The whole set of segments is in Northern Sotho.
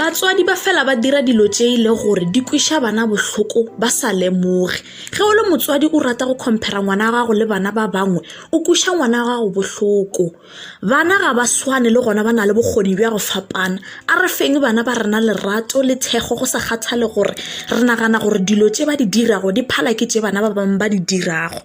batswadi ba fela ba dira dilo tše e le gore di kweša bana bohloko ba sa lemoge ge o le motswadi o rata go compara ngwana wa gago le bana ba bangwe o kweša ngwana wa gago bohloko Bana ga ba swane le gona ba na le bokgoni bja go fapana. A re feng bana ba rena lerato le thekgo go sa kgathale gore re nagana gore dilo tše ba di dirago di phala ke tše bana ba bangwe ba di dirago.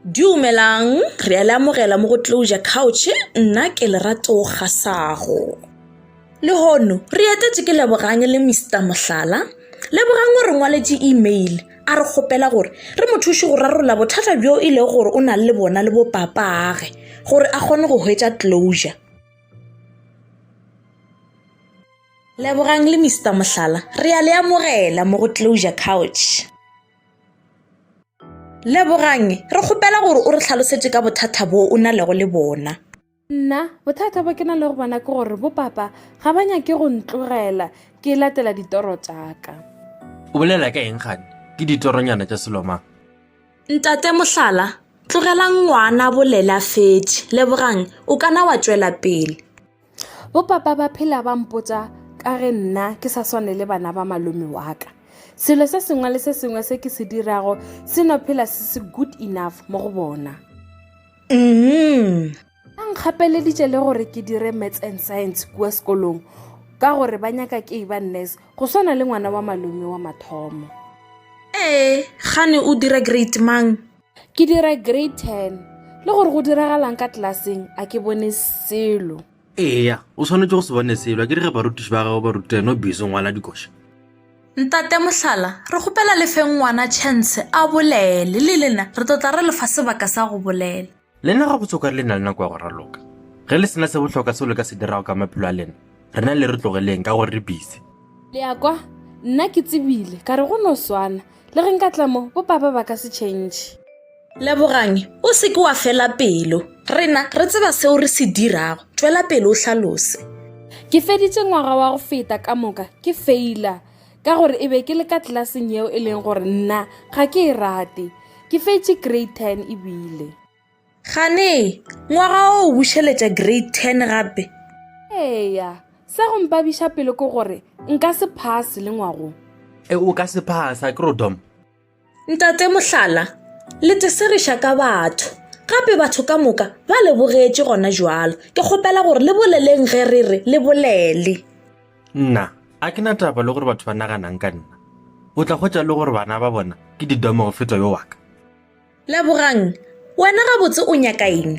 Dumelang, re a le amogela mo go Closure Couch, nna ke Lerato Kgasago. Lehono, re etetše ke Lebogang le Mister Mohlala. Lebogang o re ngwaletše email a re kgopela gore re mo thuše go rarolla bothata bjo e lego gore o na le bona le bopapaage gore a kgone go hwetša closure. Lebogang le Mister Mohlala, re a le amogela mo go Closure Couch. Lebogang, re kgopela gore o re tlhalosetše ka bothata bo o na lego le bona. nna bothata bo ke na le go bona ke gore bopapa ga ba nyake go ntlogela ke latela ditoro tsaka o bolela ka eng gane ke ditoronyana tša selomang ntate mohlala tlogelang ngwana bolela fetše lebogang o kana wa tšwela pele bopapa ba phela ba mpotsa ka ge nna ke sa swane le bana ba malome wa ka selo se sengwe le se sengwe se ke se dirago se no phela se se good enough mo go bona Umm. Ba nkgapeleditše le gore ke dire Maths and Science kua sekolong ka gore ba nyaka ke eba nurse go swana le ngwana wa malome wa mathomo. Ee, gane o dira grade mang? Ke dira grade ten. Le gore go diragalang ka tlelaseng a ke bone selo. eya o swanetše go se bone selwa ke rege barutiši ba gago ba rutela no biso ngwana dikoša ntate mohlala re kgopela le feng ngwana chance a bolele le lena re tlotla re lefa sebaka sa go bolela lena ga botsoka re le na le nako ya go raloka ge le sena se botlhoka seo le ka se dirago ka maphelo a lena rena le re tlogeleng ka gore re bise le ya kwa nna ke tsebile ka re go no swana le ge nka tlamo bo papa ba ka se change Lebogang, o se ke wa fela pelo. Rena re tseba seo re se dirago. Tšwela pele o hlalose. Ke feditše ngwaga wa go feta ka moka ke feila ka gore e be ke le ka tlelaseng yeo e leng gore nna ga ke e rate. Ke fetše grade ten ebile. Gane, ngwaga o o bušeletša grade ten gape? Eya, sa go mpabiša pelo ke gore nka se phase le ngwagong. E, o ka se phasa, Crodom. Ntate Mohlala, le teseriša ka batho, gape batho ka moka ba le bogetše gona jwalo. Ke kgopela gore le boleleng ge re re le bolele. Nna, a ke na taba le gore batho ba naganang ka nna. O tla hwetša le gore bana ba bona ke didomo go feta yo wa ka. Lebogang, wena gabotse o nyaka eng?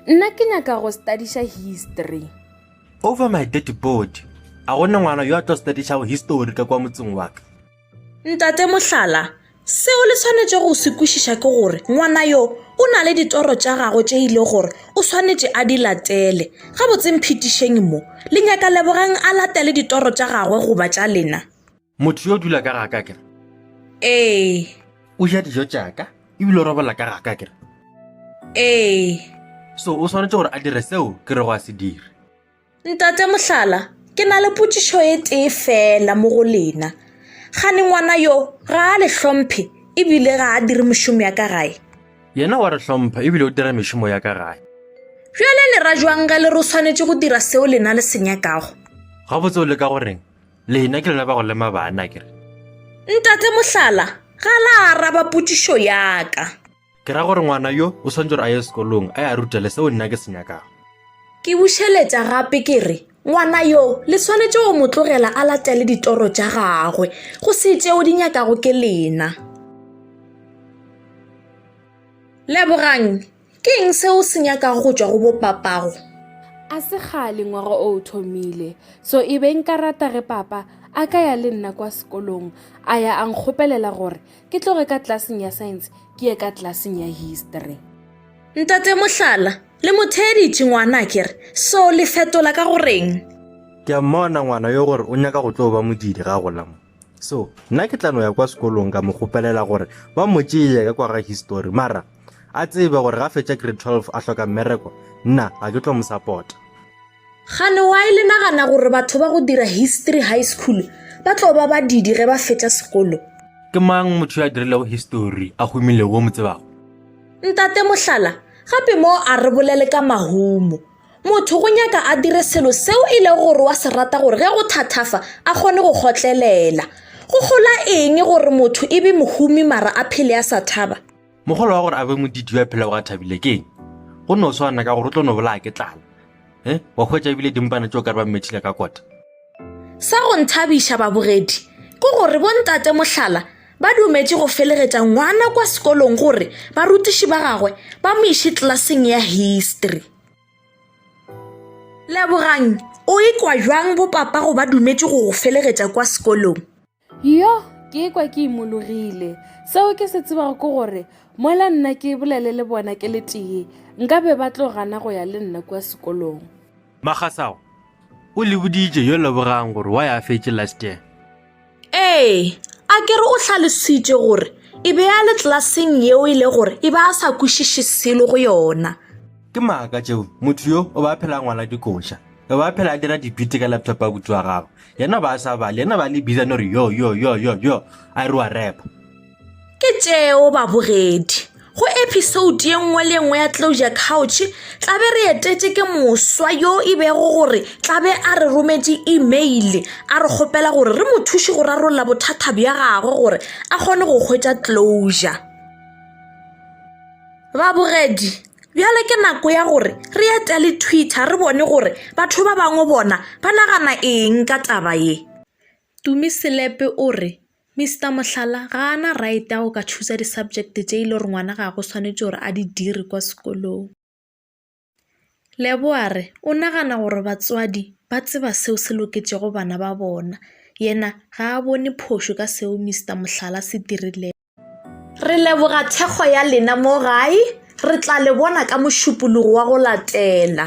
Nna ke nyaka go studiša history. Over my dead body, a go ne ngwana yo a tlo studišago history ka kwa motseng wa ka? Ntate Mohlala, seo le swanetše go se kwešiša ke gore ngwana yo o na le ditoro tša gagwe tše e le gore o swanetše a di latele. Gabotseng phetišeng mo, le nyaka Lebogang a latele ditoro tša gagwe goba tša lena? Motho yo o dula ka ga ka kere. Ee. O ja dijo tša ka ebile o robala ka ga ka kere. Ee. So o swanetše gore a dire seo ke re go a se dire. Ntate Mohlala, ke na le potšišo e tee feela mo go lena. Gane ngwana yo ga a le hlomphe ebile ga a dire mošomo ya ka gae. Yena wa re hlompha ebile o dira mešomo ya ka gae. Bjale le ra jwang ge le re o swanetše go dira seo lena le se nyakago? Gabotse o leka go reng? Lena ke lona ba go lema bana, ke re. Ntate Mohlala ga la araba potšišo ya ka. Ke ra gore ngwana yo o swantse gore a ye sekolong a ya rutele seo nna ke se nyakago. Ke bušeletša gape ke re, ngwana yo le swanetše go mo tlogela a latele ditoro tša gagwe, go se tšeo di nyakago ke lena. Lebogang, ke eng seo se nyakago go tšwa go bopapago? A se kgale ngwaga o o thomile, so e be nka rata ge papa a ka ya le nna kwa sekolong a ya a nkgopelela gore Ke tloge ka tlaseng ya science ke ye ka tlaseng ya history. Ntate Mohlala, le mo theeditše ngwana ke re, so le fetola ka go reng? Ke a mmona ngwana yo gore o nyaka go tlo ba modiri ga gola mo. So, nna ke tla no ya kwa sekolong ka mo kgopelela gore ba mo tšeye ka kwa ga history mara a tsebe gore ga fetša grade 12 a hloka mmereko, nna ga ke tlo mo support. Gane wa e le nagana gore batho ba go dira history high school ba tlo ba badidi ge ba fetša sekolo ke mang motho yo a dirilego history a humilego o mo tsebago ntate mohlala gape mo a re bolele ka mahumo motho go nyaka a dire selo seo e lego gore wa se rata gore ge go thathafa a kgone go kgotlelela go gola eng gore motho e be mohumi mara a phele a sa thaba Mogolo wa gore a be modidio a phela ga thabile ke eng? Go no swana ka gore o tlo no bolaya ke tlala. Eh, wa hwetša ebile dimpana tšeo ka re ba mmethile ka kota. Sa go nthabiša babogedi ke gore bontate Mohlala ba dumetše go felegetša ngwana kwa sekolong gore barutiši ba gagwe ba mo iše tlelaseng ya history. Lebogang, o ikwa bjang bopapa go ba dumetše go go felegetša kwa sekolong? Yo, ke ekwa ke imologile. Seo ke se tsebago ke gore mola nna ke bolele le bona ke le tee nka be ba tlo gana go ya le nna kua sekolong. Magasago o le boditše yo lebogang gore wa ya fetše last year. Ee, a ke re o hlalositše gore e be a le tlaseng yeo e le gore e ba a sa kwešiše selo go yona. Ke maaka tšeo, motho yo o ba phela ngwala dikoša. o ba phela a dira dipite ka laptop a butse wa gagwe yena ba a sa bale yena ba le biza no re yo yo yo yo yo a re wa repa ke tšeo babogedi go episode ye nngwe le nngwe ya closure couch tla be re etetše ke moswa yo e bego gore tla be a re rometše email a re kgopela gore re mo thuše go rarolla bothata bja gagwe gore a kgone go hwetša closure Babogedi, bjale ke nako ya gore re etele Twitter re bone gore batho ba bangwe bona ba nagana eng ka taba ye. Tumi Selepe o re, Mister Mohlala ga a na right ya go ka chooser di-subject tše e le gore ngwana ga go swanetše gore a di dire kwa sekolong. Leboa re o nagana gore batswadi ba tseba seo se loketšego bana ba bona, yena ga a bone phošo ka seo Mister Mohlala se dirilego. Re leboga thekgo ya lena mo gae, re tla le bona ka mošupologo wa go latela.